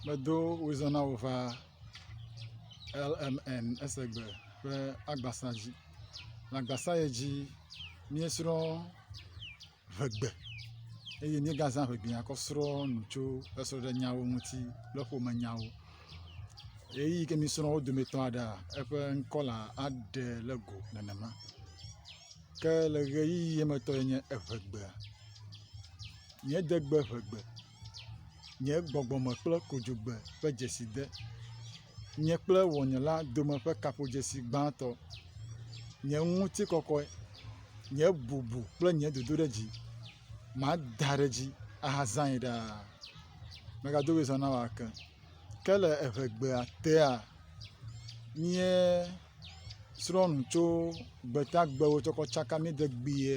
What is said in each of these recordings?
Medo wozana wo va LMN esegbe ƒe agbasa dzi. Le agbasa ye dzi míesrɔ ŋegbe eye míegazã ŋegbea kɔ srɔ nu tso esrɔɖenyawo ŋuti kple ƒomenyawo. Ɣeyiɣi ke mi srɔ wo dometɔ aɖea eƒe ŋkɔ la aɖe le go nenema. Ke le ʋeyiʋi ye me tɔe nye eŋegbea, nye degbe ŋegbe, nye gbɔgbɔme kple kodzogbe ƒe dzeside, nye kple wɔnyela dome ƒe kaƒodzesi gbãtɔ, nye ŋutikɔkɔe, nye bubu kple nye dodoɖedzi, mada ɖe edzi ahazãe ɖaa. Megado ɣli zã na wò ake. Ke le eŋegbea tea, nye. srɔ̃nu tso gbetagbewo tsɔ kɔ tsaka mí degbee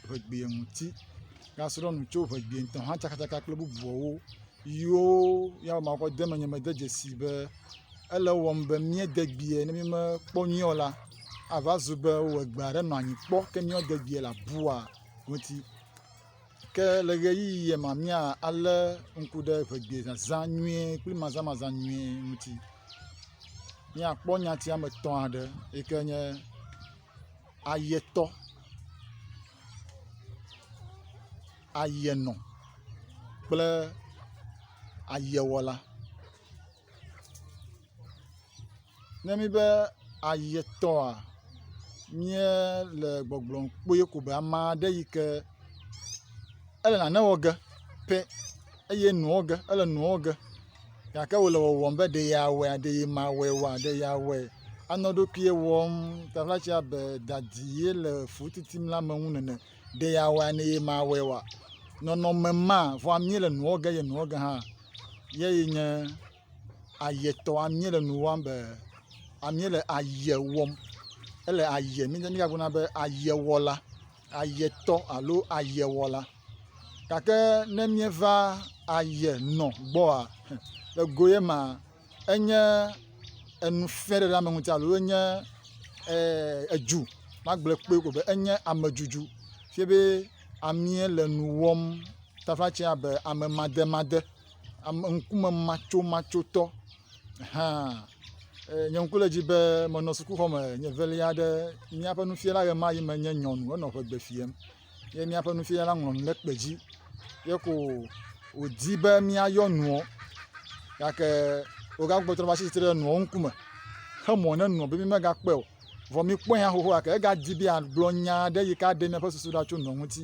ŋegbee ŋuti. Asrɔ̃ nu tso ŋegbee ŋutɔ hã tsakatsaka kple bubuawo yiwo ya ma kɔ de menye me de dzesi be ele ewɔm be míedegbee ne mímekpɔ nyuie o la ava zu be wowɔ egbea ɖe nɔ anyi kpɔ ke míedegbee le abua ŋuti. Ke le ɣeyiɣie ma, míalé ŋku ɖe ŋegbezazã nyuie kple mazãmazã nyuie ŋuti. Míakpɔ nyati ame etɔ̃ aɖe yi ke nye ayetɔ, ayenɔ kple ayewɔla. Ne míbe ayetɔa, míele gbɔgblɔm kpɔɛ ko be ame aɖe yi ke ele nane wɔ ge pɛ eye enu wɔ ge ele nu wɔ ge gake wòle wɔwɔm be ɖe yeawɔe aa ɖee mawɔe oa, ɖe yeawɔe anɔ eɖokui wɔm taɖa tse abe dadi ye le fu titim le ame ŋu nene. Ɖe yeawɔe aa ɖee mawɔe oa, nɔnɔme ma vɔa míele nu wɔ ge eye nu wɔ ge hã ye nye. ayetɔ amie le nu wɔm be amie le aye wɔm ele aye mi ne míagblɔ na be ayewɔla ayetɔ alo ayewɔla gake ne míeva aye nɔ gbɔa ego ye ma enye enufɛɖeɖeame ŋuti alo enye e edu magblɔe kpɔe ko be enye amedudu fie be amie le nu wɔm taƒe atse abe amemademade. ame ŋkume matsomatsotɔ hã eye nye ŋku le edzi be menɔ sukuxɔ me nye evelia aɖe yi míaƒe nufiala ɣemaɣi me nye nyɔnu enɔ ŋegbe fiam ye míaƒe nufiala ŋlɔ nu ɖe kpe dzi ye ko wodi be míayɔ nuɔ gake wogagbugbɔ trɔ va tsi tsitre ɖe enuɔ ŋkume xe mɔ ne enuɔ be mímegakpɔe o. Vɔ mìkpɔe hã xoxoa ke egadi be yeagblɔ nya aɖe yi ke aɖe míaƒe susu ɖa tso nɔ ŋuti.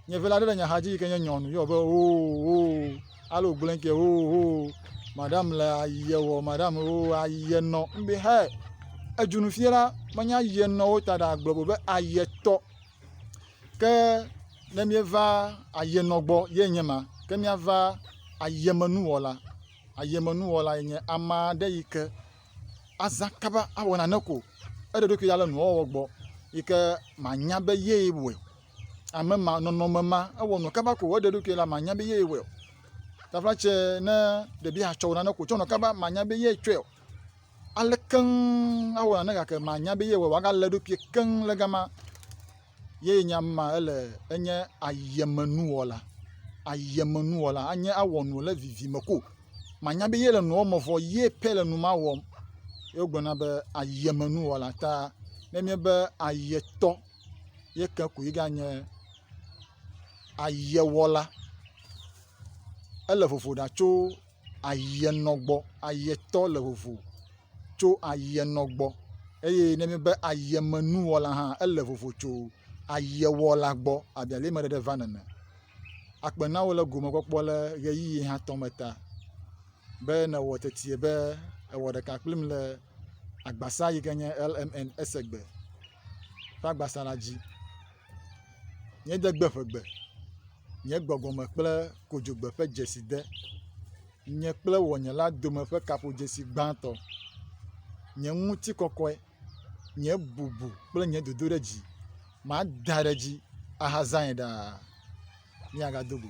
Nye vela aɖe le nye axa dzi yi ke nye nyɔnu yɔ be oo oo ale wògblɔe ke oo oo madam le ayie wɔ madam oo ayie nɔ. Mbe hɛ edzunu fie la menye ayie nɔ wo ta ɖa gblɔ bo be ayie tɔ. Ke ne míeva ayie nɔ gbɔ ye nye ma ke míava ayiemenuwɔla. Ayiemenuwɔla ye nye ame aɖe yi ke azã kaba awɔ nane ko, eɖe eɖokui ɖa le nuwɔwɔ gbɔ yi ke manya be yee wɔe. Ame ma, nɔnɔme ma, ewɔ nɔ kaba ko eɖe eɖokui la manya be yee wɔe o. Tafla tsɛ ne ɖebi atsɔ wɔ nane ko tsɔ nɔ kaba manya be yee tsɔe o. Ale keŋ awɔ nane gake manya be yee wɔe o. Agalé eɖokui keŋ le gama. ye nye ama ele enye ayemenuwɔla. Ayemenuwɔla anye awɔ nu le vivime ko manya be ye le nu wɔm vɔ ye pɛ le nu ma wɔm. Ye wogblɔna be ayemenuwɔla ta ne enye be ayetɔ ye ke koe ganye ayewɔla. Ele vovo ɖa tso. ayie nɔ gbɔ, ayie tɔ le vovo tso ayie nɔ gbɔ eye ne míbe ayie me nu wɔ la hã ele vovo tso ayie wɔ la gbɔ abe ale me ɖeɖe vana ene. Akpe na wò le gome kpɔkpɔ le ʋeyiʋi hatɔ me ta be ne wɔ teti be ewɔ ɖeka kplim le agbasa yi ke nye LMN esegbe ƒe agbasa la dzi. Míede gbe ƒegbe. nye gbɔgbɔme kple kodzogbe ƒe dzesi de, nye kple wɔnye la dome ƒe kaƒodzesi gbãtɔ, nye ŋutikɔkɔe, nye bubu kple nye dodoɖedzi, mada ɖe edzi ahazãe ɖaa. Míagado go.